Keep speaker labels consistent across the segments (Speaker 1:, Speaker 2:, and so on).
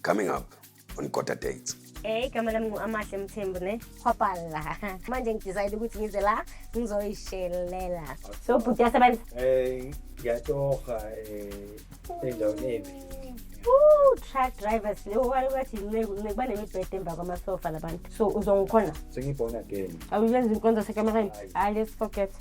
Speaker 1: Coming up on Kota Dates. Hey, igama lami
Speaker 2: ngu-amahle mthembu ne hwapala manje ngidecide ukuthi ngize la ngizoyishelela so bhuti yasebenza um ngiyatoha
Speaker 3: um endaweni embi
Speaker 2: truck drivers leyo kwale kwathi inceku inceku banemibhede emva kwamasofa labantu so uzongikhona sengiyibona
Speaker 3: again awuyenza inkonzo
Speaker 2: sekameraini hayi let's forget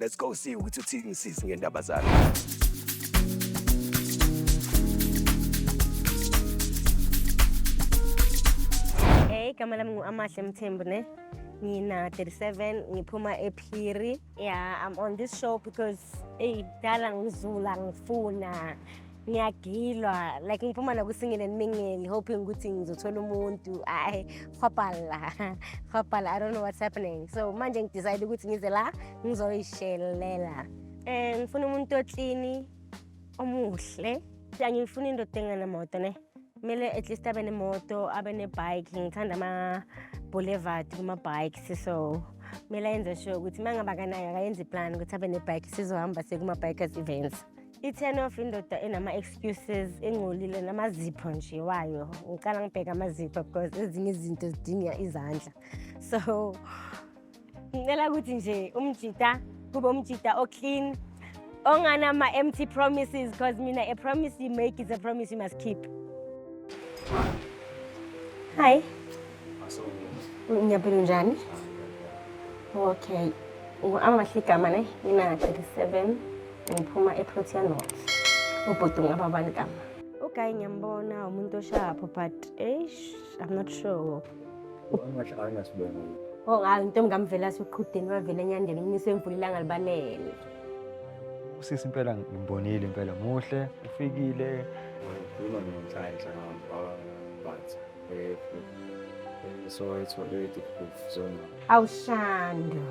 Speaker 1: Let's go see ukuthi uthini sisi ngendaba zakhe.
Speaker 2: Hey, igama lami ngu-Amahle Mthembu ne. Ngina 37, ngiphuma ePhiri. Yeah, I'm on this show because eyi dala ngizula ngifuna ngiyagilwa like ngiphuma nakusingile nimingeli hoping ukuthi ngizothola umuntu ayi hwabhala hwabhala i don't know what's happening so manje ngidecide ukuthi ngize la ngizoyishelela um ngifuna umuntu oklini omuhle angiyifuni indoda enganamoto ne kumele at least abe nemoto abe nebike ngithanda ama-boulevard kuma-bikes so kumele ayenze sure ukuthi uma ngaba kanayo akayenze iplan ukuthi abe nebike sizohamba sekuma-bikers events I-turn off indoda enama-excuses engcolile namazipho nje wayo ngicala ngibheke amazipho because ezinye izinto zidinga izandla so ngicela ukuthi nje umjita kube umjita oclean onganama-empty promises because mina a promise you make is a promise you must keep hi ngiyaphila njani okay amahle igama ne mina-37 ngiphuma eprotea north ubhuti ngaba bani kama ugayi ngiyambona umuntu oshapho but eish i'm not sure
Speaker 3: Oh hayi intombi
Speaker 2: kamvela siqhudeni wavela enyandeni umnisi wemvula ilanga libalele.
Speaker 3: Usisi impela ngimbonile impela muhle ufikile. Ukhuluma nomthayi nhlanga baba Batha. Eh, eh, so it's very difficult for someone. Awushando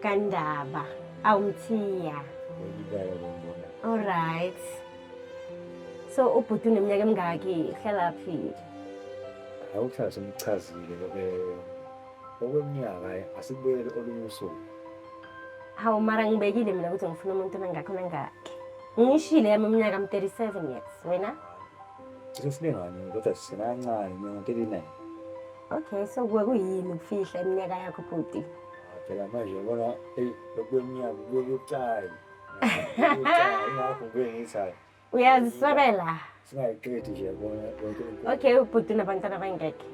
Speaker 2: kandaba awumthiya. Ngiyibala lo mbona. All right. So ubhuti uneminyaka emingaki uhlala phi?
Speaker 3: Awuhlala semchazile loke okweminyaka eh, asibuyele olunye usuku.
Speaker 2: Hawu mara ngibekile mina ukuthi ngifuna umuntu onangakho nangakhe. Ngishile yami iminyaka I'm 37 years. Wena? Usefunengane
Speaker 3: kodwa sisenancane mina 39. Okay,
Speaker 2: so kuwe kuyini ukufihla iminyaka yakho bhuti? Ah, phela manje
Speaker 3: ubona eyi lokweminyaka kubucayi. Ingakho kuye ngithayo. Uyaziswebela.
Speaker 2: Singayiqedi
Speaker 3: nje yabona konke. Okay, ubhuti unabantwana
Speaker 2: abangekho.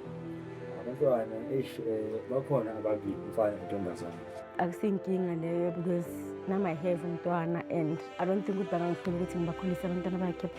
Speaker 2: Abantwana
Speaker 3: eish eh, bakhona ababili umfana nentombazane. Akusinkinga
Speaker 2: leyo because nama have umntwana and I don't think ukuthi bangangifuni ukuthi ngibakhulise abantwana bakhe.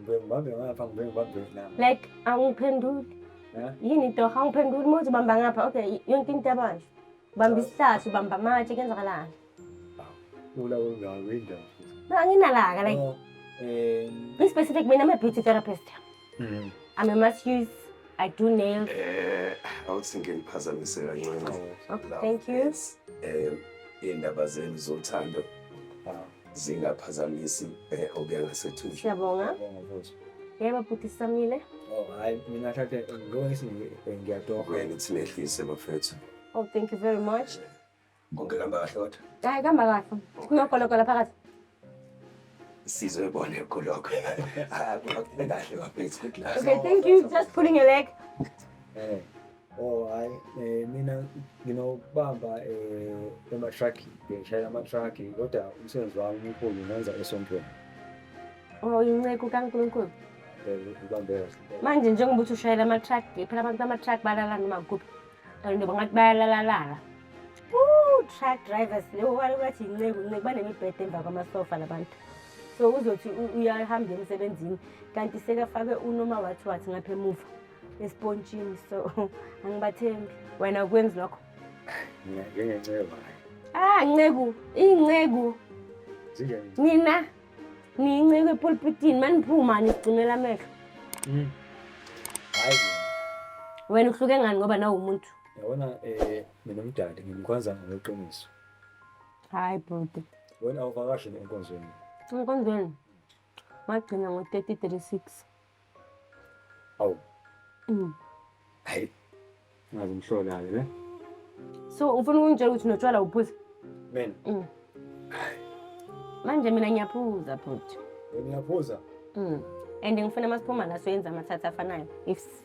Speaker 3: Ngibheke ngibambe ngapha, ngibheke ngibambe ngapha. Like angiphenduli.
Speaker 2: Eh? Yini into angiphenduli uma uthi ubamba ngapha. Okay, yonke into yabanje. Ubamba isihlahla, ubamba amatshe, kuyenzakalani?
Speaker 3: Ula kungako indawo. No, anginalaka
Speaker 2: like Oh, eh, be specific mina I'm a beauty therapist. Mm. I'm a mass use. I do nails. Eh, awuthi
Speaker 1: ngiliphazamise kancane. Okay, thank
Speaker 2: you. Eh,
Speaker 1: indaba zenu zothando. ah. zingaphazamisi eh, obengasethuzi siyabonga
Speaker 2: yebo bhuti samile oh hayi mina
Speaker 3: thathe ngiyongisi eh, ngiyatoka wena uthi
Speaker 1: nehlise bafethu oh thank you very
Speaker 2: much konke kamba
Speaker 1: kahle kodwa hayi kamba kahle
Speaker 2: kunogologola phakathi sizwe bone
Speaker 1: kulokho ah,
Speaker 2: kahle bafethu okay thank you just pulling your leg eh Oh
Speaker 3: hayi eh, mina nginokubamba eh, ema-truck ngishayela ama-truck kodwa umsebenzi wami omkhulu ngenza esontweni
Speaker 2: Oh, uyinceku kaNkulunkulu. eh, ngibambe
Speaker 3: kahle Manje njengoba
Speaker 2: uthi ushayela ama-truck, phela abantu bama-truck balala noma kuphi. Kanti noma ngathi bayalalalala. Ooh, truck drivers leyo wale bathi inceku, inceku banemibhede emva kwamasofa labantu. So uzothi u- uyahamba emsebenzini kanti sekafake unoma wathi wathi ngapha emuva. esipontshini so angibathembi wena ukwenzi lokho njengenceba
Speaker 3: ah
Speaker 2: nceku inceku
Speaker 3: nina
Speaker 2: niyinceku epulpitini maniphuma nisigcinela amehlo hmm.
Speaker 3: wena
Speaker 2: uhluke ngani ngoba nawo umuntu yabona um eh,
Speaker 3: mina umdali ngimkhonza ngokweqiniso hayi
Speaker 2: bhuti wena awuvakashe
Speaker 3: enkonzweni enkonzweni
Speaker 2: Wagcina ngo-3036.
Speaker 3: Awu. Mm. Hayi. Ngazi umhlolayo ne? So
Speaker 2: ufuna ukungitshela ukuthi notshwala uphuza? Mina. Mm. Manje mina ngiyaphuza futhi. Ngiyaphuza?
Speaker 3: Mm. And
Speaker 2: ngifuna masiphuma la soyenza amathatha afanayo. Ifs.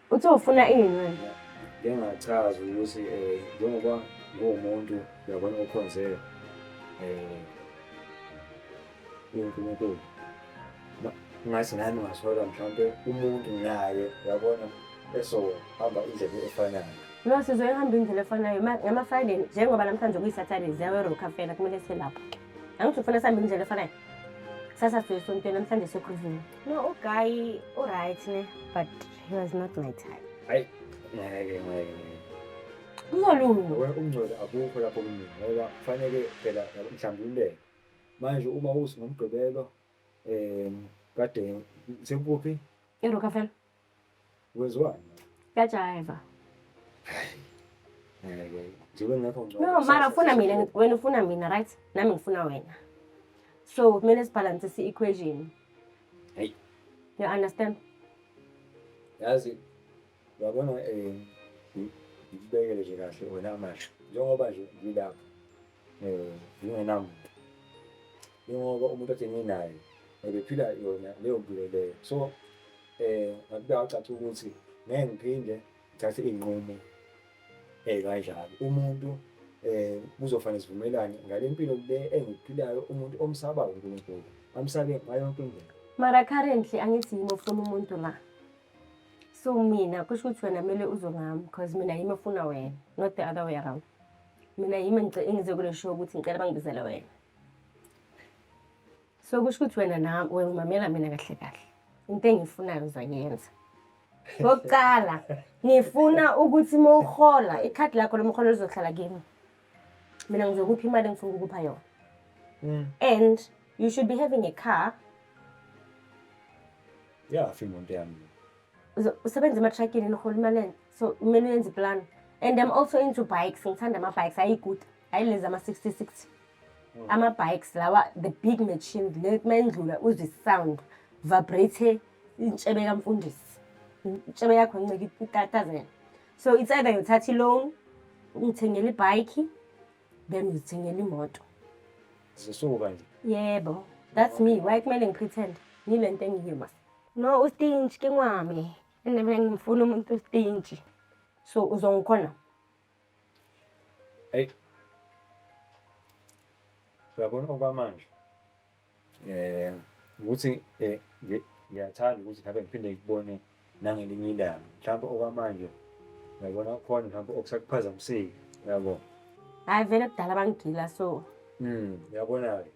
Speaker 2: Uthi ufuna ini manje? Ngingachaza
Speaker 3: ukuthi eh njengoba nguwumuntu uyabona ukhonze eh uNkulunkulu. Ngathi nami ngasola mhlawumbe umuntu naye uyabona esohamba indlela efanayo. No sizoyihamba
Speaker 2: indlela efanayo ngama-Friday njengoba namhlanje kuyi-Saturday ziyaweroka fela kumele selapho. Angithi ufuna sihambe indlela efanayo? Kusasa sizoyisontweni namhlanje sekhuvuka. No, uguy
Speaker 3: uright ne, but he was not my type. Hayi, ngeke ngeke.
Speaker 2: Uzolunga. Wena umngcwele akukho
Speaker 3: lapho kumina ngoba kufanele phela mhlambululeke. Manje uma uthi ngomgqibelo eh kade sekuphi? Erokafela. Wezwani? Kajaiva.
Speaker 2: Njengoba
Speaker 3: ngekho ngcono. No, mara ufuna mina,
Speaker 2: wena ufuna mina, right? Nami ngifuna wena. So kumele sibhalanse si-equation. Hey.
Speaker 3: You
Speaker 2: understand?
Speaker 3: Yazi yabona eh ngibekele nje kahle wena manje njengoba nje ngilapha eh ngingenamuntu ingoba umuntu athi nginaye ebephila yona leyo mpilo leyo so eh ngakuba wacaca ukuthi ngeke ngiphinde ngithathe iy'nqumo eh kanjalo umuntu eh kuzofanele sivumelane ngale mpilo le engiphilayo umuntu omsabayo uNkulunkulu amsabe ngayo yonke indlela mara currently
Speaker 2: angithi yimi ofuna umuntu la so mina kusho ukuthi wena kumele uzwe ngami because mina yimi ofuna wena not the other way around mina yimi engize kule show ukuthi ngicela bangibizele wena so kusho ukuthi wena na wena umamela mina kahle kahle into engiyifunayo uzoyenza ngokuqala ngifuna ukuthi uma uhola ikhadi lakho lomholo lizohlala kimi mina ngizokupha imali engifuna ukukupha yona mm. and you should be having a car yeah,
Speaker 3: afi imoto yami usebenza
Speaker 2: ematrakini niholi imaleni so kumele uyenze iplan and i'm also into bikes ngithanda ama-bikes ayi good hayi lezi ama-sixty sixty hmm. ama-bikes lawa the big machine le mayindlula uzwe sound vibrate intshebe kamfundisi intshebe yakho ncike itatazela so it's either yothatha i-loan ungithengela ibhayikhi then uzithengela imoto zisuka
Speaker 3: nje yebo
Speaker 2: that's me why kumele ngipretend ngile nto engiyiyo ma no ustinji ke ngwami Mina bengifuna umuntu ostinji. So uzongikhona?
Speaker 3: Hey. Uyabona okwamanje. Eh, ukuthi eh ngiyathanda ukuthi ngabe ngiphinde ngikubone nangelinye ilanga. Mhlawumbe okwamanje uyabona khona mhlawumbe okusakuphazamisile. Uyabo. Hayi vele
Speaker 2: kudala bangigila so. Mm, uyabona-ke.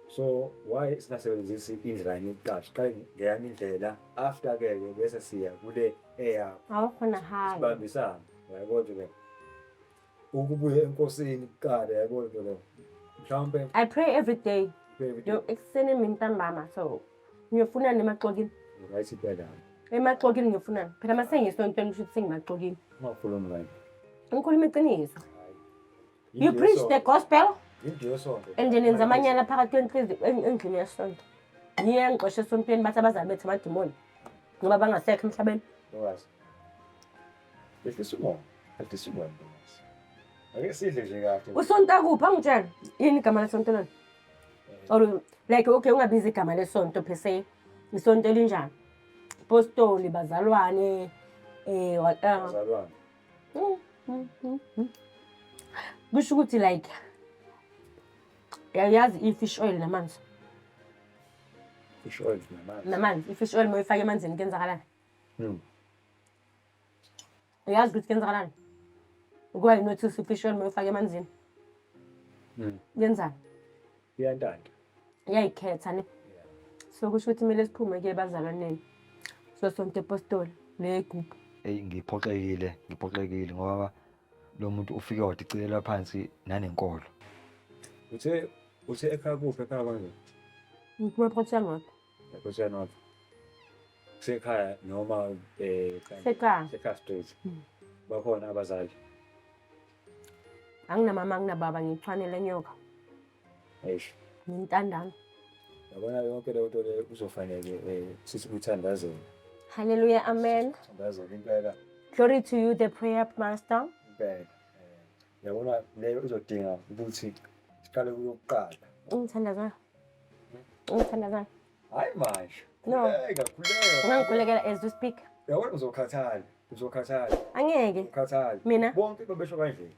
Speaker 3: So why singasebenzisi indlela yami yokuqasha? Qale ngeyami indlela. after ke ke bese siya kule eyakho awukho na high
Speaker 2: sibambisana yabo
Speaker 3: nje ke ukubuya enkosini kuqala yabo nje ke mhlawumbe i pray every
Speaker 2: day yo ekuseni mina ntambama so ngiyofuna nemaxokini right ibela
Speaker 3: emaxokini ngiyofuna
Speaker 2: phela masengisontweni kusho ukuthi sengimaxokini ungafuni mngani
Speaker 3: ngikhuluma
Speaker 2: iqiniso you
Speaker 3: preach the
Speaker 2: gospel
Speaker 3: and nenza amanyala
Speaker 2: phakathi endlini yesonto niye ngixoshe esontweni bathi abazali bethu amadimoni ngoba bangasekho emhlabeni
Speaker 3: ake sidle nje kahle usonto akuphi angitshela
Speaker 2: yini igama lesonto lona eh. or like okay ungabiza igama lesonto per se isonto elinjani postoli bazalwane eh waqala kusho ukuthi like yayazi i-fish oil namanzi fish oil namanzi
Speaker 3: namanzi i-fish oil moyifake
Speaker 2: emanzini kuyenzakalani hmm. uyazi ukuthi kuyenzakalani ukuba yinothisa i-fish oil moyifake emanzini hmm. yenzani
Speaker 3: Uyantanta. Uyayikhetha
Speaker 2: ne. So kusho ukuthi kumele siphume ke bazalwaneni. So sonke apostoli le group. Hey ngiphoxekile, ngiphoxekile
Speaker 4: ngoba lo muntu ufike wadicelela phansi nanenkolo. Uthe
Speaker 3: uthe ekhaya kuphi ekhaya kwanje? Ngikuwe
Speaker 2: photha ngapha. Photha
Speaker 3: ngapha. Sekhaya noma eh sekhaya.
Speaker 2: Sekhaya straight.
Speaker 3: Hmm. Bakhona abazali.
Speaker 2: anginamama anginababa ngithwanele nyoka eish
Speaker 3: ngintandana
Speaker 2: yabona
Speaker 3: yonke leyo nto leyo kuzofanele um sithi kuthandazela haleluya
Speaker 2: amen thandazela impela
Speaker 3: glory to you
Speaker 2: the prayer master impela
Speaker 3: um yabona leyo izodinga ukuthi siqale kuyokuqala
Speaker 2: ungithandazana ungithandazana Hayi
Speaker 3: manje. No. Khuleka,
Speaker 2: khuleka.
Speaker 3: Ungangikhulekela as we
Speaker 2: speak. Yabona uzokhathala.
Speaker 3: Uzokhathala. Angeke.
Speaker 2: Ukhathala. Mina.
Speaker 3: Bonke babesho
Speaker 2: kanje.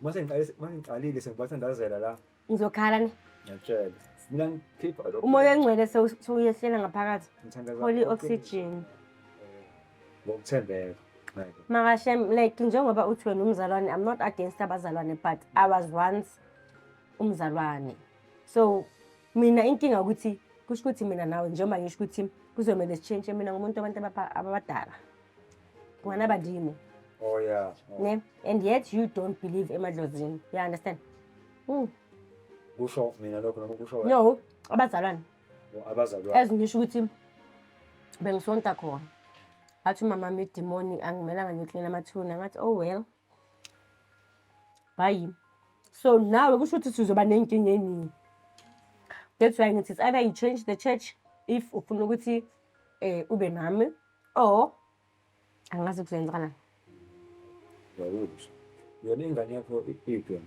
Speaker 3: Mase ngiqalise, mase ngiqalile sengibathandazela la. Ngizokhala ni.
Speaker 2: Ngiyatshela. Mina
Speaker 3: ngikhipha lokho. Umoya ongcwele
Speaker 2: sewuyehlela ngaphakathi. Ngithandaza. Holy
Speaker 3: oxygen.
Speaker 2: Eh, ngokuthembeka.
Speaker 3: Makashem
Speaker 2: like njengoba uthi wena umzalwane I'm not against abazalwane but I was once umzalwane. So Mina inkinga ukuthi kusho ukuthi mina nawe njengoba ngisho ukuthi kuzomele sitshintshe mina ngumuntu abantu ababadala ngwana abadini oh yeah
Speaker 3: oh. ne and yet
Speaker 2: you don't believe emadlozini you understand mm. kusho
Speaker 3: mina lokho noma kusho wena no abazalwane
Speaker 2: oh, abazalwane
Speaker 3: as ngisho ukuthi
Speaker 2: bengisonta khona athi umama mi demoni angimelanga ngiklina amathuna ngathi oh well hayi so nawe kusho ukuthi sizoba ney'nkinga ey'ningi that's why ngithi it's either you change the church if ufuna ukuthi um ube nami or angazi kuzoyenzakalani
Speaker 3: yona ingane yakho iphi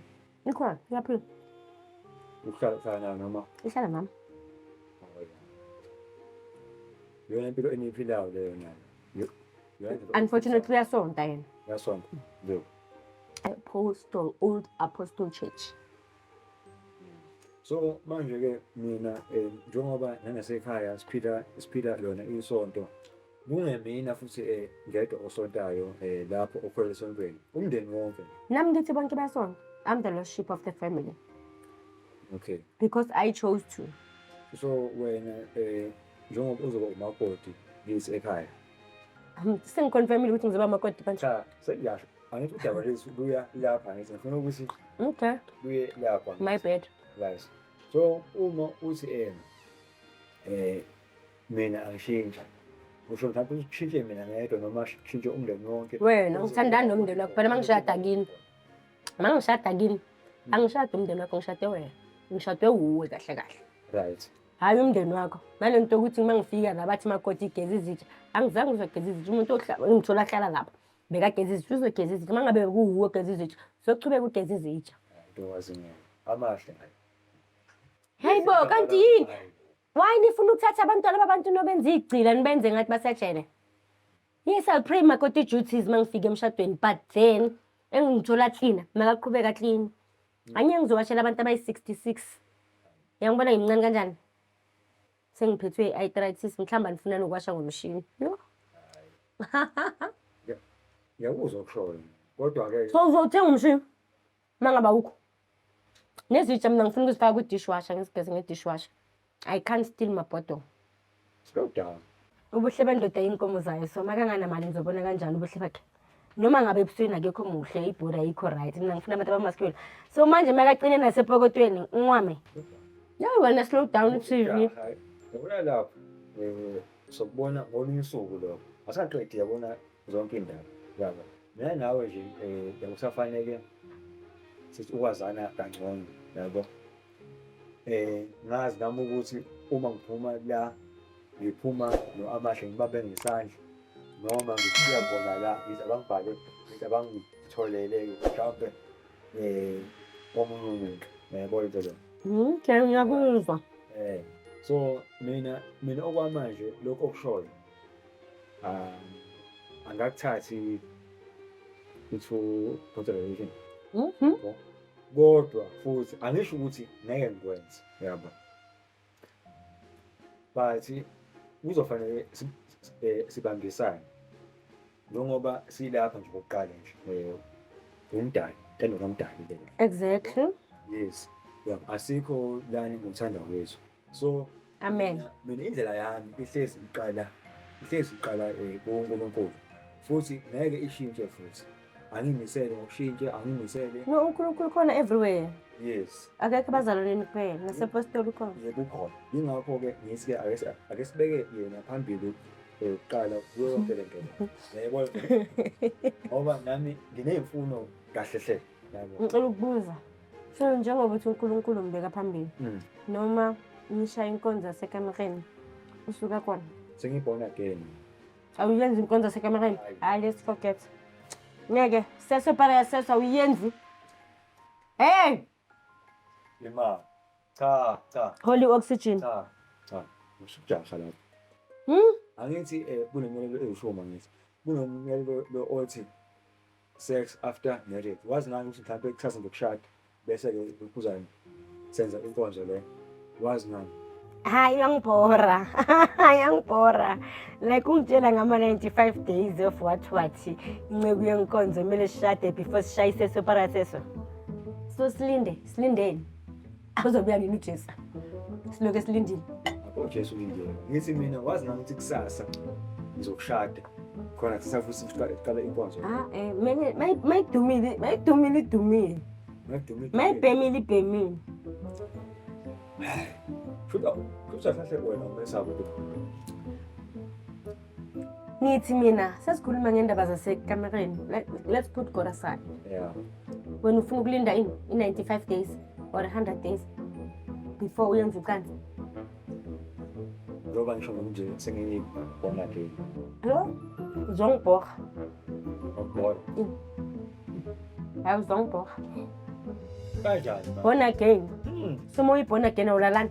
Speaker 3: Ikhona,
Speaker 2: iyaphila. Uhlala
Speaker 3: uhlala nayo noma? Ihlala
Speaker 2: mama.
Speaker 3: Yona impilo eniyiphilayo leyo nayo.
Speaker 2: Unfortunately uyasonta yena. Uyasonta. Ndio.
Speaker 3: Apostle
Speaker 2: Old Apostle Church. So
Speaker 3: manje ke mina eh, njengoba nangasekhaya siphila siphila lona isonto Kungemina futhi eh ngedwa osontayo eh lapho okhwela esontweni. Umndeni wonke. Nami ngithi bonke
Speaker 2: basonto. I'm the lost sheep of the family
Speaker 3: Okay. because I
Speaker 2: chose to. So
Speaker 3: wena eh njengoba uzoba umakoti ngisi ekhaya. Um,
Speaker 2: Sengiconfirmile ukuthi ngizoba makoti manje. Cha sengiyasho.
Speaker 3: Angithi udaba lwethu luya lapha ngithi ngifuna ukuthi Okay, luye
Speaker 2: lapha.
Speaker 3: my bad.
Speaker 2: Right. So
Speaker 3: uma uthi eh eh mina angishintsha kusho ukuthi akho ushintshe mina ngedwa noma shintshe umndeni wonke wena ngithandani nomndeni
Speaker 2: wakho phela mangishada kini mangishada kini angishade umndeni wakho ngishade wena ngishade wuwe kahle kahle right hhayi
Speaker 3: umndeni wakho
Speaker 2: nalento yokuthi uma ngifika la bathi makoti igeza izitsha angizange uzogeza izitsha umuntu ngithola ahlala lapho bekageza izitsha uzogeza izitsha uma ngabe kuwuwe ogeza izitsha sochubeka ugeza izitsha
Speaker 3: amahle
Speaker 2: hayi bo kanti yini Why nifuna ukuthatha abantwana babantu nobenza igcila nibenze ngathi basejele? Yes, I'll pray my koti duties mangifike emshadweni but then engingithola clean makaqhubeka clean. Anye ngizowashela abantu abayi-66. Yangibona ngimncane kanjani? Sengiphethwe i-arthritis mhlawumbe anifuna nokuwasha ngomshini. Yho.
Speaker 3: Ngiyakuzwa ukushoyo. Kodwa-ke So uzothenga umshini?
Speaker 2: Uma ngabe awukho nezitsha mina ngifuna ukuzifaka kwi-dishwasher ngizigeze nge-dishwasher i can't steal my bottle slow
Speaker 3: down ubuhle bendoda
Speaker 2: iy'nkomo zayo so makanganamali ngizobona kanjani ubuhle bakhe noma ngabe ebusweni akekho muhle ibhodi ayikho right mina ngifuna abantu abamaskule so manje makacine nasepokotweni unwame yayi wena slow down tv yabona lapho
Speaker 3: um sokubona ngolunye usuku lokho asaqedi yabona zonke iy'ndaba yaba mina nawe nje um yabo kusafaneke sithi ukwazana kangcono yabo um ngazi nami ukuthi uma ngiphuma la ngiphuma no-amahle ngibambe ngesandla noma ngifika bona la ngize abangibhale ngize abangitholele-ke mhlawumpe um omunye umuntu yabo into leyo okay ngiyakuzwa
Speaker 2: um so
Speaker 3: mina mina okwamanje lokhu okushoyo Ah, angakuthathi into consideration. Mhm. Kodwa futhi angisho ukuthi ngeke ngikwenze, yabo. But kuzofanele si- si- eh, sibambisane njengoba silapha nje kokuqala nje eh, ngumdali tendo kamdali lena Exactly.
Speaker 2: yes
Speaker 3: yabo asikho lani ngothanda kwethu so amen
Speaker 2: mina indlela yami
Speaker 3: ihlezi iqala ihlezi iqala eh, kuNkulunkulu futhi ngeke ishintshe futhi angimisele ngokushintshe angimisele no uNkulunkulu khona
Speaker 2: everywhere yes akekho
Speaker 3: bazalwaneni
Speaker 2: kuphela nasepostoli khona yebo ukhona yingakho
Speaker 3: ke ngithi ake sibeke yena phambili yokuqala kuyo yonke le nto yayibona ngoba nami nginey'mfuno kahle hle ngicela ukubuza
Speaker 2: so njengoba uthi unkulunkulu ngibeka phambili mm. noma ngishaye inkonzo yasekamereni usuka kona sengiyi-born again
Speaker 3: awuyenzi
Speaker 2: inkonzo yasekamereni hayi let's forget ngeke seso para yaseso awuyenzi hey
Speaker 3: Yema. Cha, cha. Holy oxygen.
Speaker 2: Cha,
Speaker 3: cha. Usujasha lapho. Hmm? Angithi eh kunemiyalelo eyishoma ngithi. Kunomyalelo lo othi sex after marriage wazi nani ukuthi mhlawumbe kuchaza ngokushada bese-ke uphuzane senza inkonzo le wazi nani hayi
Speaker 2: yangibhora yangibhora like ungitshela ngama-95 days of what what inceku yenkonzo kumele sishade before sishayise soparaseswa so silinde silindeni Uzobuya nini uJesu? Siloke silindile. UJesu ulindile.
Speaker 3: Ngithi mina wazi nami ukuthi kusasa ngizokushada. Khona sisafuthi siqale siqale inkonzo. Ah eh
Speaker 2: manje mayidumile mayidumile idumile. Mayidumile. Mayibhemile ibhemile.
Speaker 3: Shuda, kusasa hle wena umesaba ukuthi
Speaker 2: ngithi mina sesikhuluma ngendaba zasekamereni let's put god aside yeah.
Speaker 3: wena ufuna
Speaker 2: ukulinda ini i-95 days or 100 days before uyenza ucansi njengoba
Speaker 3: ngisho nje sengiyibhonga ke lo
Speaker 2: uzongibhorha
Speaker 3: ngibhora
Speaker 2: hayi uzongibhorha
Speaker 3: kanjani born again hmm.
Speaker 2: soma uyiborn again awulalani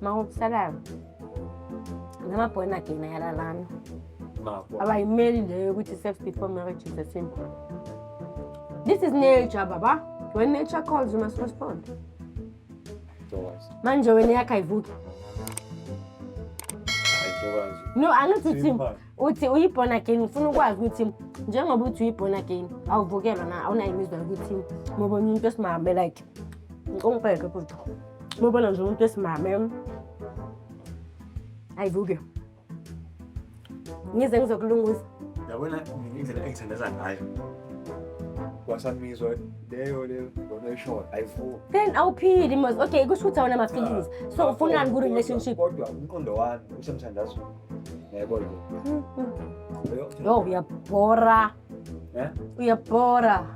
Speaker 2: Makukusalayo. Nama born again ayala lami. Mako.
Speaker 3: Abayimeli leyo
Speaker 2: yokuthi sex before marriage is a sin. This is nature, baba. When nature calls, you must respond. Ntokazi. Manje wena yakho ayivuki. Hayi ntokazi. No, angithi Simba. uthi uyi-born again ngifuna ukwazi ukuthi njengoba uthi uyi-born again awuvukelwa na awunayo imizwa yokuthi mobona umuntu esimame like ungibheke bhuti mobona nje umuntu esimame ayivuke ngize ngizokulungisa yabona indlela
Speaker 3: engithandeza ngayo wasamizwa leyo leyo lona ishoyo ayivuke then
Speaker 2: awuphili mos okay kusho ukuthi awunama-feelings so ufunani ku-relationship kodwa umqondo
Speaker 3: wami usemthandazweni Yayibona.
Speaker 2: Yo uyabhora. Eh? Uyabhora.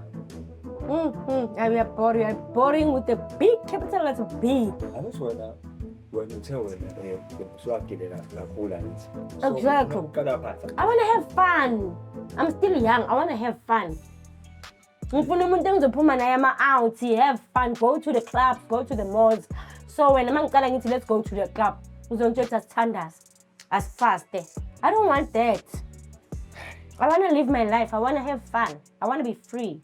Speaker 2: Mm, mm, ay, uyabhora, uyaboring with a big capital letter B. Angithi wena
Speaker 3: wena uthe wena eh, usuwagilela kakhulu angithi. So,
Speaker 2: Exactly. Qala phansi. I want to have fun. I'm still young. I want to have fun. ngifuna umuntu engizophuma naye ama-out have fun go to the club go to the malls so wena uma ngicala ngithi let's go to the club uzongitshothi asithandaze asifaste i don't want that i want to live my life i want to have fun i want to be free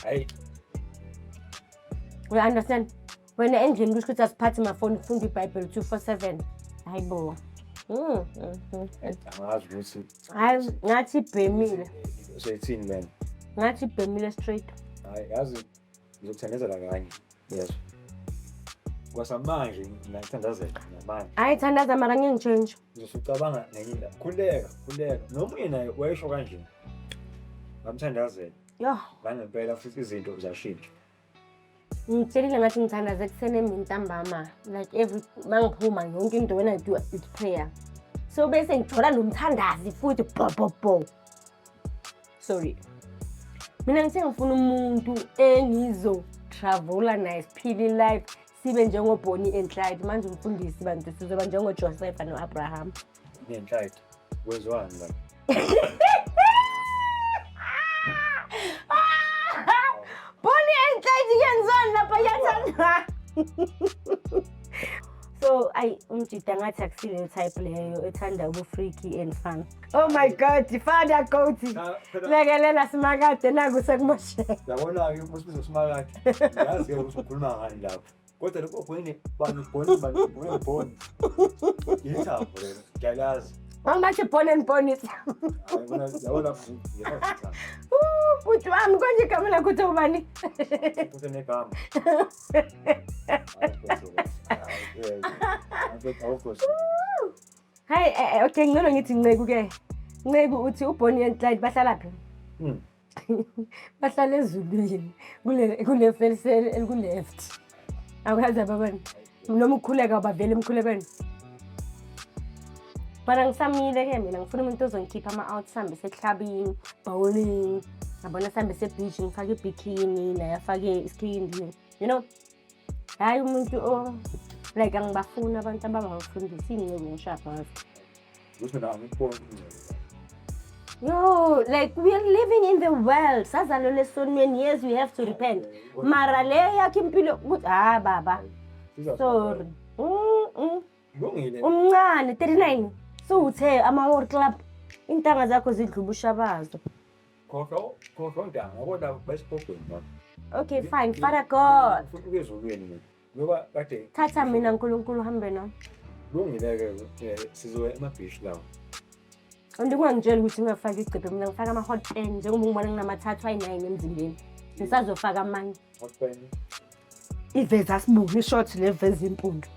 Speaker 3: Hey.
Speaker 2: we understand wena endlini kusho ukuthi asiphathi mafoni kufunda ibhayibheli 247 hayi bo Mm, mm,
Speaker 3: mm. angazi ukuthi hayi ngathi
Speaker 2: ibhemile seyithini lena
Speaker 3: ngathi ibhemile
Speaker 2: straight
Speaker 3: hayi yazi ngizokuthandazela kanye yezwa kwasamanje ngiyakuthandazela namanje hayi thandaza mara ngeke
Speaker 2: ngitshentshe ngizosucabanga nenye
Speaker 3: indaba khuleka khuleka nomunye naye wayesho kanje ngamthandazela yoh
Speaker 2: ngangempela futhi
Speaker 3: izinto ziyashintsha
Speaker 2: ngitshelile ngathi ngithandaza ekuseni emini ntambama like every mangiphuma yonke into when i do it prayer so bese ngithola nomthandazi futhi bhobhobho sorry mina ngithe ngifuna umuntu engizo-travela naye siphile ilife sibe njengobonnie and clyde manje umfundisi bantu sizoba njengojosefa no-abraham nenhlide
Speaker 3: kwenziwani
Speaker 2: la bonnie and clyde kuyenzani lapha yathanda so ayi umjida ngathi akusile type leyo ethanda ubufreaky and fun Oh my god, fanda goti. Lekelela simakade naku sekumoshela. Yabona-ke usibizo
Speaker 3: simakade. Yazi-ke ukuthi ukhuluma ngani lapho. Kodwa lokho ogwini bani boni bani boni boni. Yithambo lelo. Ngiyalazi. Angathi born and
Speaker 2: born is. Bhuti wami konje igama lakho uthi ubani? Futhi
Speaker 3: negama.
Speaker 2: Awukho. Awukho. Hayi eh, eh, okay ngcono ngithi nceku ke. Nceku uthi uBonnie and Clyde bahlala phi? Hmm. Bahlala ezulwini kule kule felsel eliku left. Awukazi ababani. Noma ukhuleka ubavela emkhulekweni. Bana ngisamile ke mina ngifuna umuntu ozongikhipha ama out sambe sehlabini, bowling. Ngabona sambe se beach ngifake ibikini naye afake isikhindi. You know hhayi umuntu o like angibafuni abantu abangangifundisi iy'nceku ngisho abazi Kusho nawe ngikubona ingcebo.
Speaker 3: yo
Speaker 2: like we are living in the world sazalelwa esonweni yes we have to repent mara le yakhe impilo ukuthi ha baba Siza- sorry Mm, mm.
Speaker 3: Kulungile. umncane
Speaker 2: 39 siwuthe amawor club iintanga zakho zidlubusha bazo
Speaker 3: Khohlwa khohlwa ntanga ngoba basipogweni baba. Okay fine
Speaker 2: Father God. Futhi ukezulweni mina.
Speaker 3: Ngoba kade thatha mina uNkulunkulu
Speaker 2: hambe no. Lungile ke
Speaker 3: eh, sizoya emabhishi lawo.
Speaker 2: Andikungangitshela ukuthi ngingafaki igcebhe mina ngifaka ama hot pen njengoba ngibona nginamathathu ayi-9 emzimbeni. Ngisazofaka amanye. Hot pen. Iveza sibuka ishort le veza impundu.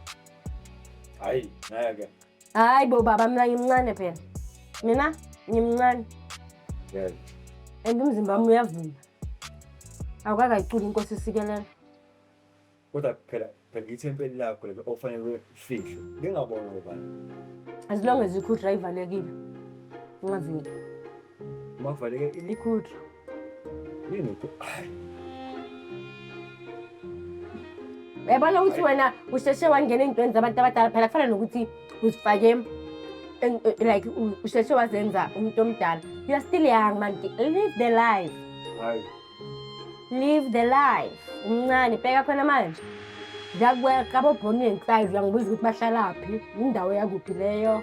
Speaker 3: Hayi, ngeke. hayi bo baba
Speaker 2: mina ngimncane phela mina ngimncane
Speaker 3: Yes. and
Speaker 2: umzimba wami uyavuma awukakayiculi inkosi isikelela
Speaker 3: Kodwa phela phela ithempeli lakho lelo ofanele ufihle. Lingabonwa ubani. as long as
Speaker 2: ikhudra ivalekile ungaveli
Speaker 3: Makuvaleke ini? ikhudra Yini ku- Ay,
Speaker 2: uyabona ukuthi wena usheshe wangena ey'ntweni zabantu abadala phela kufana nokuthi uzifake en- eh, like u- usheshe wazenza umuntu omdala you are still young man live the life ay. live the life umncane bheka khona manje ngiyakuwela qabobhonini ngisayizi uyangibuza ukuthi bahlalaphi indawo yakuphi leyo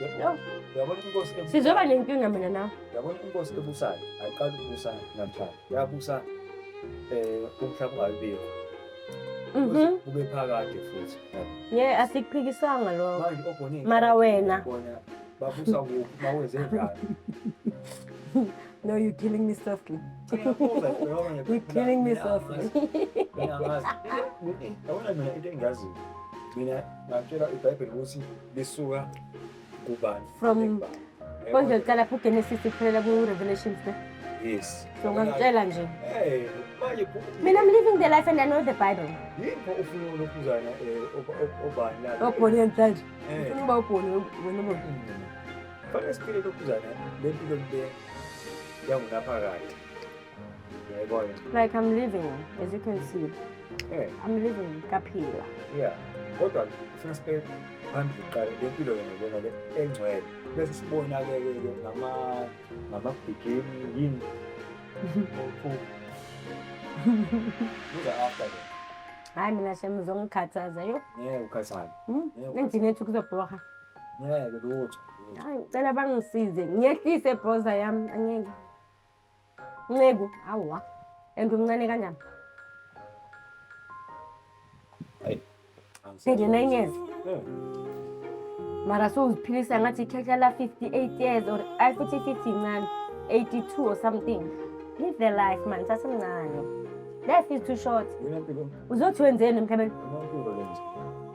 Speaker 3: Uyabona inkosi ebusayo. Sizoba nenkinga mina
Speaker 2: nawe. Uyabona inkosi ebusayo.
Speaker 3: Ayiqali ukubusa namhlanje. Yabusa eh umhlaba ungabibikho. Mhm. Kube phakade futhi. Ngeke
Speaker 2: asikuphikisanga lokho. Manje ogone. Mara
Speaker 3: wena.
Speaker 2: Babusa
Speaker 3: kuphi bawenze njani?
Speaker 2: No, you're killing me softly. you're killing me softly. Mina
Speaker 3: ngazi. Mina into engaziyo. Mina ngakutshela iBhayibheli ukuthi lisuka kubani From- Yebo.
Speaker 2: konje liqala phi ugenesis kuphelela ku-revelations ne yes so
Speaker 3: ungangitshela
Speaker 2: nje Eh, manje ku-
Speaker 3: mina i'm living
Speaker 2: the life and i know the bible yikho ufuna
Speaker 3: ulokhuzana um obani la obhoni yanhlanje
Speaker 2: Eh. ufuna ukuba ubhoni wena uboni fanele siphile
Speaker 3: lokhuzana lempilo le yangunaphakade Yeah, boy. Like I'm
Speaker 2: living, as you can see. Yeah. I'm living kaphila. Yeah.
Speaker 3: Kodwa sifuna sibe phambili kuqala le mpilo yona lena le engcwele. Bese sibona ke ke ngama ngama bikini yini. Buza after ke. Hayi mina
Speaker 2: shem uzongikhathaza yo. Yeah, ukhathana.
Speaker 3: Hmm? Ngithini ethi
Speaker 2: kuzobhoha. Yeah, ke
Speaker 3: lutho. Hayi, cela
Speaker 2: bangisize. Ngiyehlise bhoza yami, angeke. Nceku, hawa. And umncane kanjani? Hayi. Senge nine years. Yeah. Mara so uziphilisa ngathi ikhehla la 58 years or ay futhi 50 incane. 82 or something. Live the life man, sasemncane. Life is too
Speaker 3: short.
Speaker 2: Wena mpilo. Uzothi wenzeni emhlabeni? Wena mpilo lenje.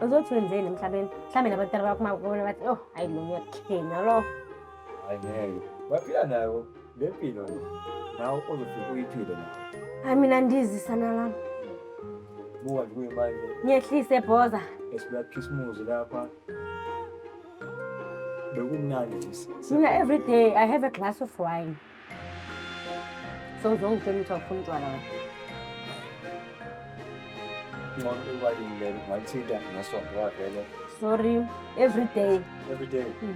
Speaker 2: Uzothi wenzeni emhlabeni? Mhlawumbe nabantwana bakho makubona bathi, "Oh, hayi lo uyakhenya lo." Hayi ngeke.
Speaker 3: Baphila nayo. Le mpilo le nawe ozofika uyiphile nawe. Hayi mina ndizi
Speaker 2: sana lami. Buka
Speaker 3: nje kuye manje Ngehlise bhoza.
Speaker 2: esibuya khisimuzi
Speaker 3: lapha. Bekumnandi nje. si- si- Mina every day
Speaker 2: I have a glass of wine. So ngizongitshela ukuthi awufuni utshwala wena.
Speaker 3: Ngcono iwayini lelo ngalithinta ngesonto wavele. Sorry,
Speaker 2: every day. Every day. Mm.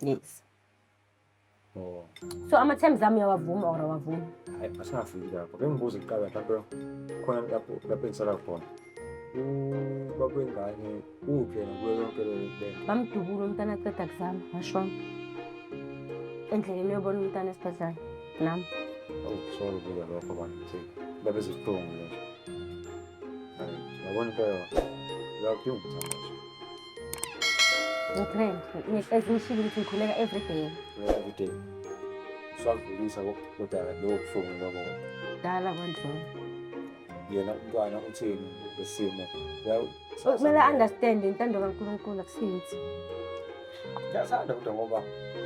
Speaker 2: Yes.
Speaker 3: Oh. So ama
Speaker 2: terms ami uyawavuma or awavumi? Hayi asafiki
Speaker 3: lapho. Bengibuza kuqala mhlawumbe khona lapho lapho engisala khona. Ubaba wengane uphi yena kuyo yonke le nto? Bamdubula umntana
Speaker 2: aqeda kuzama ngashona. Endleleni uyobona umntana esibhedlela nami. Oh, sorry
Speaker 3: kuya lokho bantu. Babe zibuhlungu nje. Hayi, yabona impela. Yakho yungithandaza.
Speaker 2: Ngitrend. As ngishilo ukuthi ngikhuleka every day. Every day.
Speaker 3: Usakudlulisa kodwa lowo buhlungu lobo. Dala kwandlula.
Speaker 2: Yena
Speaker 3: umntwana uthini lesimo.
Speaker 2: Kumele understand intando kaNkulunkulu akusinzi. Ngiyathanda
Speaker 3: kodwa ngoba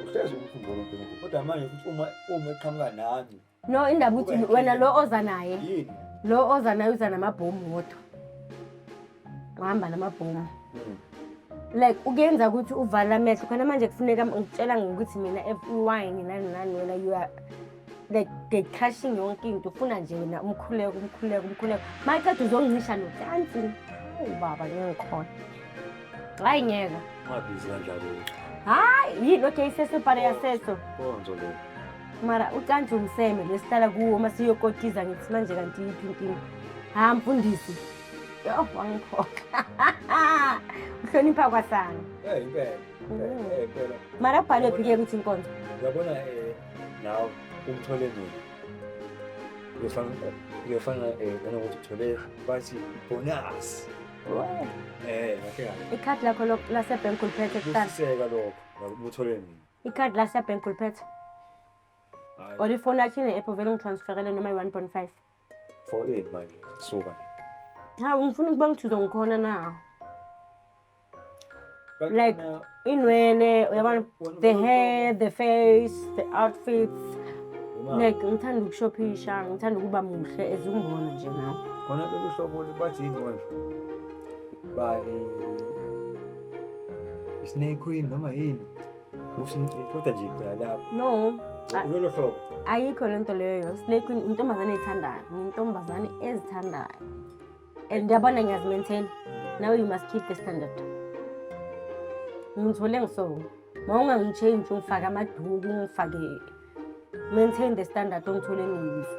Speaker 3: uhlezi umkhumbula uNkulunkulu. Kodwa manje futhi uma uma eqhamuka nami no indaba ukuthi Kube
Speaker 2: wena lo oza naye yini lo
Speaker 3: oza naye uza
Speaker 2: namabhomu wodwa uhamba namabhomu Mm. like ukuyenza ukuthi uvale amehlo khona manje kufuneka ngitshela ngokuthi mina efuwayini nani nani wena you are like they crushing yonke into ufuna nje wena umkhuleko umkhuleko umkhuleko maqeda uzoncisha nocansi awu baba ngikhona hayi ngeke ungabizi kanjalo
Speaker 3: hayi yini
Speaker 2: okay sesebhare yaseso konzo le
Speaker 3: mara ucantshe
Speaker 2: umseme lesihlala kuwo uma siyokotiza ngithi manje kanti yiphi inkinga ha mfundisi yo wangiphoxa uhlonipha kwasana Eh, impela. Mm. Eh, eh, impela.
Speaker 3: mara kubhalwe
Speaker 2: phike ukuthi inkonzo Uyabona eh
Speaker 3: nawe umthole mina. Uyofana uyofana eh nanokuthi uthole bathi bonus. Eh, ngakhe ngakhe. ikhadi lakho
Speaker 2: lo- lasebhenki uliphethe kuqala Kusiseka lokho.
Speaker 3: Uthole mina. ikhadi la siyabhenki
Speaker 2: uliphethe or ifoni yakho ine-app vele ungitransferele noma i-one point five for
Speaker 3: ini manje suka ha
Speaker 2: ngifuna ukuba ngithuze ngikhona na like inwele uyabona the hair the face the outfits like ngithanda ukushophisha ngithanda ukuba muhle as ungibona nje nawe khona lolu hlobo
Speaker 3: bathi yini manje bani Snake queen noma yini usho kodwa
Speaker 2: nje phela
Speaker 3: lapho no ah, lolo hlobo ayikho le nto
Speaker 2: leyo snake queen intombazane ezithandayo ngintombazane ezithandayo and uyabona ngiyazimaintain now you must keep the standard ngithole ngiso ma ungangitshenji ungifake amaduku ungifake maintain the standard ongithole ngiyiso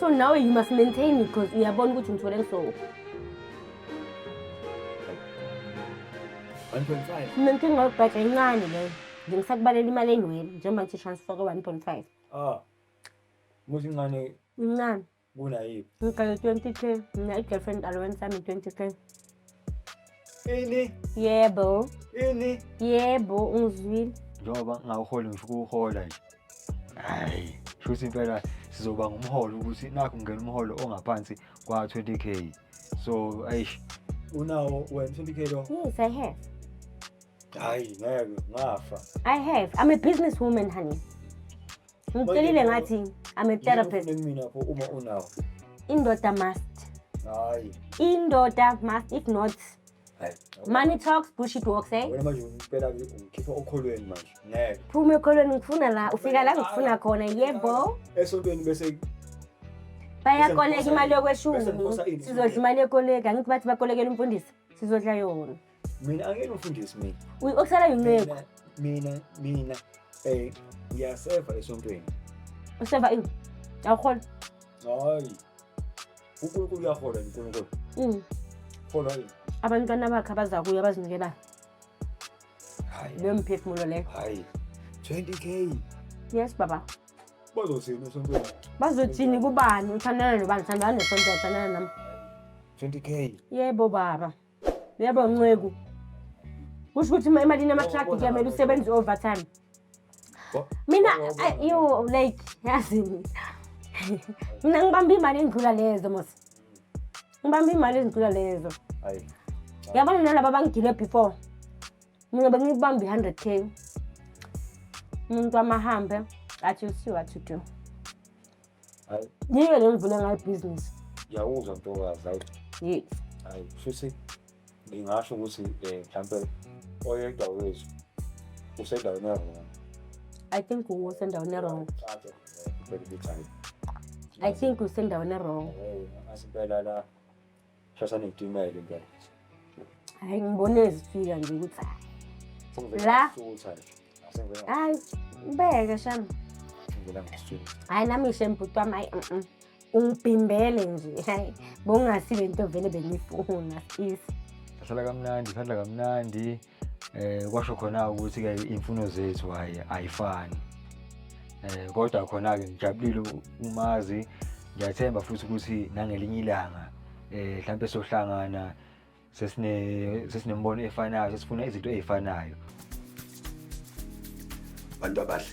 Speaker 2: so now you must maintain it because uyabona ukuthi ngithole ngisowo 1.5 mina inkinga yokubhaja incane leyo nje ngisakubalela imali enywele njengoba ngithi transfer ko-one point five
Speaker 3: ah muthi incane incane
Speaker 2: kunayiphi
Speaker 3: ngigale twenty k
Speaker 2: mina i-girlfriend allowance yami twenty k Ini?
Speaker 3: Yebo. Ini? Yebo,
Speaker 2: ungizwile. Njengoba ngingawuholi
Speaker 4: ngifuna ukuwuhola nje. Hhayi, shuthi impela sizoba ngumholo ukuthi nakho ngingena umholo ongaphansi kwa-20 k so ayish unawo
Speaker 3: wena 20 k lo Yes, I have.
Speaker 2: hhayi
Speaker 3: ngeke ngafa I have. I'm a
Speaker 2: businesswoman, honey. Ngitshelile ngathi I'm a therapist. Mina lapho uma unawo.
Speaker 3: Indoda
Speaker 2: must. Hayi. Indoda must if not Money talks, bullshit walks, eh? Wena manje ngicela ngikhipha
Speaker 3: okholweni manje. Ngeke. Phuma ekholweni ngifuna
Speaker 2: la, ufika la ngifuna khona, yebo. Esontweni bese bayakoleka imali yokweshumi sizodla imali yekoleka angithi bathi bakolekela umfundisi sizodla yona mina angeke
Speaker 3: umfundisi mina ukusala yinceku
Speaker 2: mina
Speaker 3: mina eh ngiyaseva esontweni useva ini
Speaker 2: awuhola hayi
Speaker 3: uNkulunkulu uyahola uNkulunkulu mm hola yini abantwana bakhe abaza
Speaker 2: kuye abazinikelayo
Speaker 3: hayi leyo mphefumulo
Speaker 2: leyo hayi 20k
Speaker 3: yes baba
Speaker 2: bazothini
Speaker 3: esontweni bazothini
Speaker 2: kubani uthandana nobani uthandana nesonto uthandana nami
Speaker 3: 20k yebo baba
Speaker 2: Yebo nceku. Kusho ukuthi ima- imali inamatraki kuyamele usebenze overtime. Wa- Mina Wawubona. ay- yo like yazini. Mina ngibamba imali endlula lezo mos. Ngibamba imali endlula lezo. Hayi.
Speaker 3: Yabona nalaba
Speaker 2: abangigile before. Mina bengibamba i-100k. Umuntu wamahambe athi usiwa to do.
Speaker 3: Hayi. Yike le
Speaker 2: ngivule ngayo ibhizinisi. Yawuzwa ntokazi
Speaker 3: hayi. Yini? Hayi
Speaker 2: futhi
Speaker 3: ngingasho ukuthi eh mhlambe oyedwa wethu usendaweni yavona. I think
Speaker 2: u was endaweni wrong. I think usendaweni wrong. Asimpela la.
Speaker 3: Shasa ngitimele impela. Hayi
Speaker 2: ngibone ezifika nje ukuthi hayi. La. Hayi ubeke sham. Ngibona ngisitshela.
Speaker 3: Hayi nami ishe mbhuti
Speaker 2: wami hayi. Mm, mm. Ungibhimbele nje. Hayi bongasi lento vele bengifuna sis. Sala kamnandi,
Speaker 4: sadla kamnandi. eh kwasho khona ukuthi ke imfuno zethu hayi ayifani eh kodwa khona ke ngijabulile umazi ngiyathemba futhi ukuthi nangelinye ilanga eh mhlambe sohlangana sesine sesinembono efanayo sesifuna izinto ezifanayo
Speaker 1: bantu abahle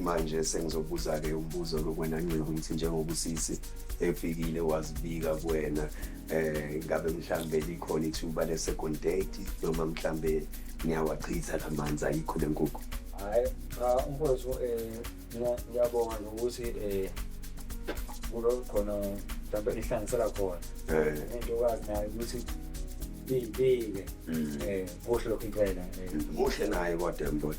Speaker 1: manje sengizobuza-ke umbuzo lokwena nceku ukuthi njengoba usisi efikile wazibika kuwena um ngabe mhlawumbe likhona ithuba le-second date noma mhlawumbe niyawachitha la manzi ayikho le nkukhu hhayi ah,
Speaker 3: umfowethu um ngiyabonga nokuthi um kulo khona mhlawumbe ihlangisela khona into okwazi nayo ukuthi iyibike um kuhle lokhu impela muhle naye
Speaker 1: kodwa mbona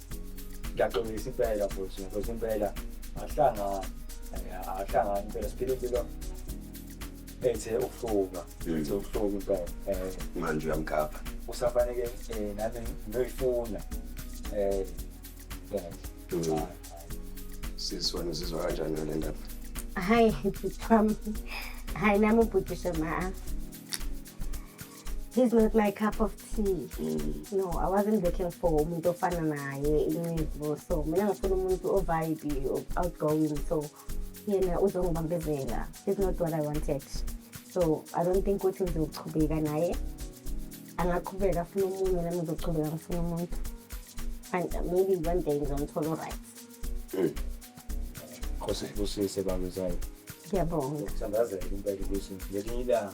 Speaker 3: ngiyaxolisa impela futhi because impela ahlangani ahlangani impela siphile impilo ethe ukuhluka mm. ethe ukuhluka impela eh manje
Speaker 1: uyamgapha usafanele
Speaker 3: eh nami ngiyoyifuna eh yeah
Speaker 1: sisi wena uzizwa kanjani ngale ndaba hayi
Speaker 2: bhuti wami hayi nami ubhuti shema he's not my cup of tea mm. no i wasn't looking for umuntu ofana naye incevo so mina ngifuna umuntu ovibe outgoing so yena uzongibambezela is not what i wanted so i don't think ukuthi ngizochubeka naye angaqhubeka afuna omunye nami ngizochubeka ngifuna umuntu and maybe one day ngizomthola right mm.
Speaker 3: khosi kusise bamezana ngiyabonga
Speaker 2: sandazela impela
Speaker 3: ukuthi ngelinye ilanga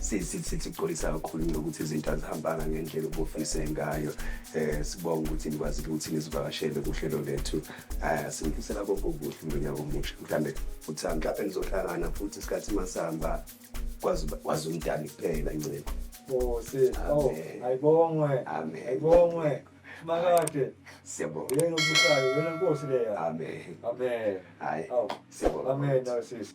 Speaker 1: sixolisa kakhulu nokuthi izinto azihambanga ngendlela obufise ngayo um sibonga ukuthi nikwazile ukuthi nizivakashele kuhlelo lethu um sinifisela konke okuhle ngonyaka omusha mhlawumbe futhi mhlawumbe nizohlangana futhi isikhathi masihamba kwazi umdali kuphela ncebo Nkosi. Oh,
Speaker 3: ayibongwe.
Speaker 1: Amen. Ayibongwe.
Speaker 3: Makade. Siyabonga.
Speaker 1: Yena ubusayo, yena
Speaker 3: Nkosi leya. Amen. Amen. Hayi. Aw. Siyabonga. Amen, Narcissus.